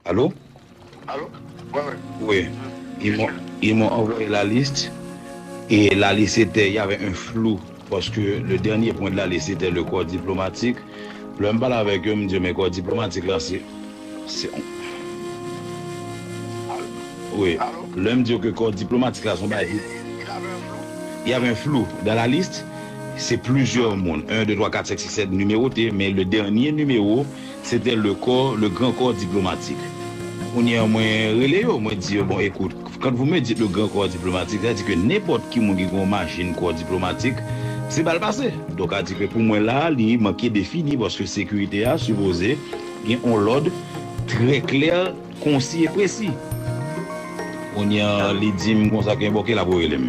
Allo? Allo? Wi, wi. Wi. Ils m'ont, ils m'ont envoyé la liste et la liste était, il y avait un flou parce que le dernier point de la liste était le corps diplomatique. Lè m pale avèk yo, m di yo men corps diplomatique la se, se yon, wi, lè m di yo ke corps diplomatique la se yon bagay ki, Il avait un flou. Il avait un flou dans la liste, se plizyè moun, 1, 2, 3, 4, 5, 6, 7 nimewote men le dernier numéro Sete le kò, le gran kò diplomatik. Kounye an mwen rele yo, mwen di yo, bon ekout, quand vous me dites le grand corps diplomatique, sa vle di ke nenpòt ki moun ki gen yon machin kò diplomatik, se bal pase. Donk a di ke pou mwen la a, li manke defini paske sekirite a sipoze gen yon lòd trè klè, konsi e presi. Kounye an li di m konsa ke bon ke la pou rele m.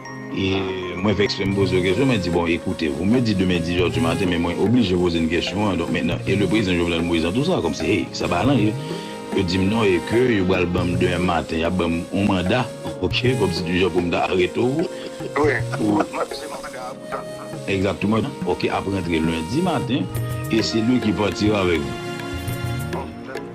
E mwen vèks lè m poze yo kesyon, mwen di bon ekoute, vous me dites demain 10 heures du matin men mwen oblije poze n kesyon an, donk mentnan e le prezidan Jovenel Moïse nan tou sa, kòmsi hey, sa pa lan ye. Yo di m non e ke yo pral ban m demen maten, y ap ban m yon manda, ok, kòmsi di jan pou m ta arete w. Wi, mwen se manda a pou tann lan. Egzakteman, ok, ap rantre lendi maten e se li ki patira avèk vou.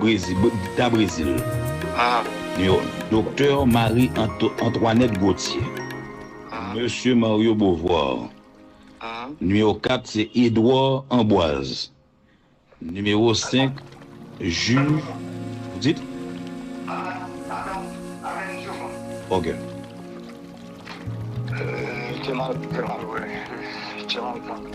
Brezil, ta Brezil, yo. Doktè Marie Antoinette Gauthier, Mesye Mario Beauvoir, nimewo 4 se Edouard Amboise, nimewo 5 Ju, ou di? Ok. Te mal, te mal wè, te mal konn.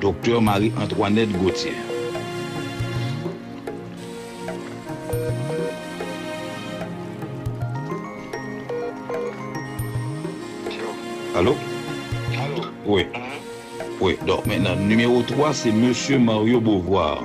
Doktè Marie Antoinette Gauthier. Alo? Alo? Wi. Wi. Donk mennan nimewo 3 se Mesye Mario Beauvoir.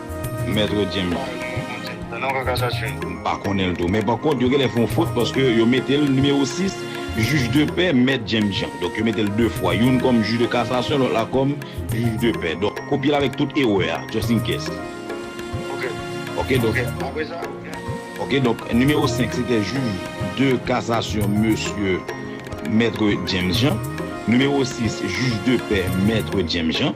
Maître James. M pa konnen l tou. Men pankont, yo gen lè fè yon fot paske yo mete l nimewo 6, jij de pè, Mèt James Jean. Donk, yo mete l de fwa. Youn kòm jij de kasasyon, lòt la kòm jij de pè. Donk, kopye l avèk tout erè a, just in case. Ok, donk. Ok, donk, nimewo 5 se te jij de kasasyon mesye Mèt James Jean. Nimewo 6, jij de pè, Mèt James Jean.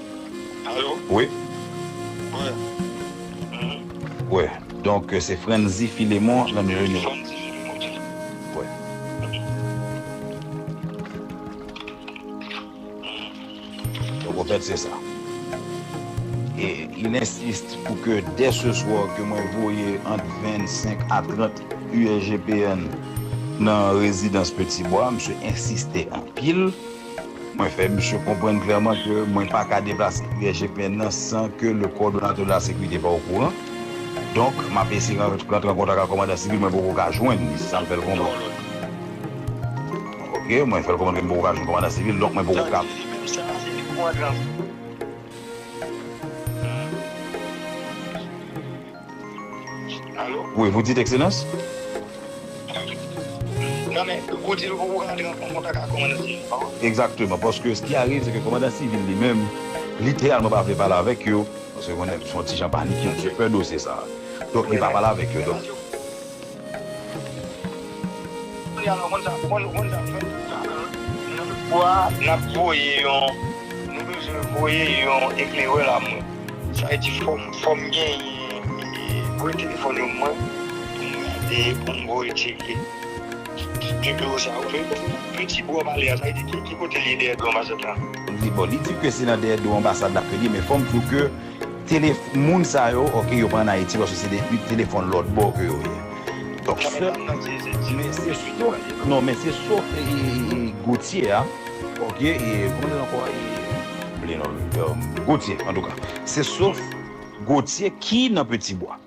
Alo wi Wi Donk se Frantzy Philemon nan nou ye nou Donk an fèt se sa E il insiste pou ke dè se swa ke mwen voye ant 25 a 30 USGPN nan rezidans Petit Bois Misye insiste anpil Mwen fè misye konprann klèman ke mwen pa ka deplase USGPN nan san ke le Kòdonatè de la Sécurité pa okouran. Donk, m ap eseye rantre an kontak ak Kòmandan Sivil, mwen poko ka jwenn li, se sa m fè l konprann. Ok, mwen fè l konprann ke m poko ka jwenn Kòmandan Sivil, donk mwen poko ka. Tande, menm sa a se depi w antre an. Alo? Wi, vous dites Ekselans? Non men, ou di l pou ou rantre an kontak ak Kòmandan Sivil pa ou? Egzakteman, paske s ki arive se ke Kòmandan Sivil li menm, literalman pa vle pale avèk yo, paske konnen l son ti jan panike, l di yo pè dosye sa a. Donk li pa pale avèk yo. Li di ke se nan dèyè do anbasad lap rele men fòm di w ke Tele moun sa yo ok yo pa an ayiti paske se de u telefon lot bo ke yo ye donk se men se sof non men se sof Gauthier a ok e kòman li rele ankò e m bliye non l Gauthier antouka se sof Gauthier ki nan petit bois.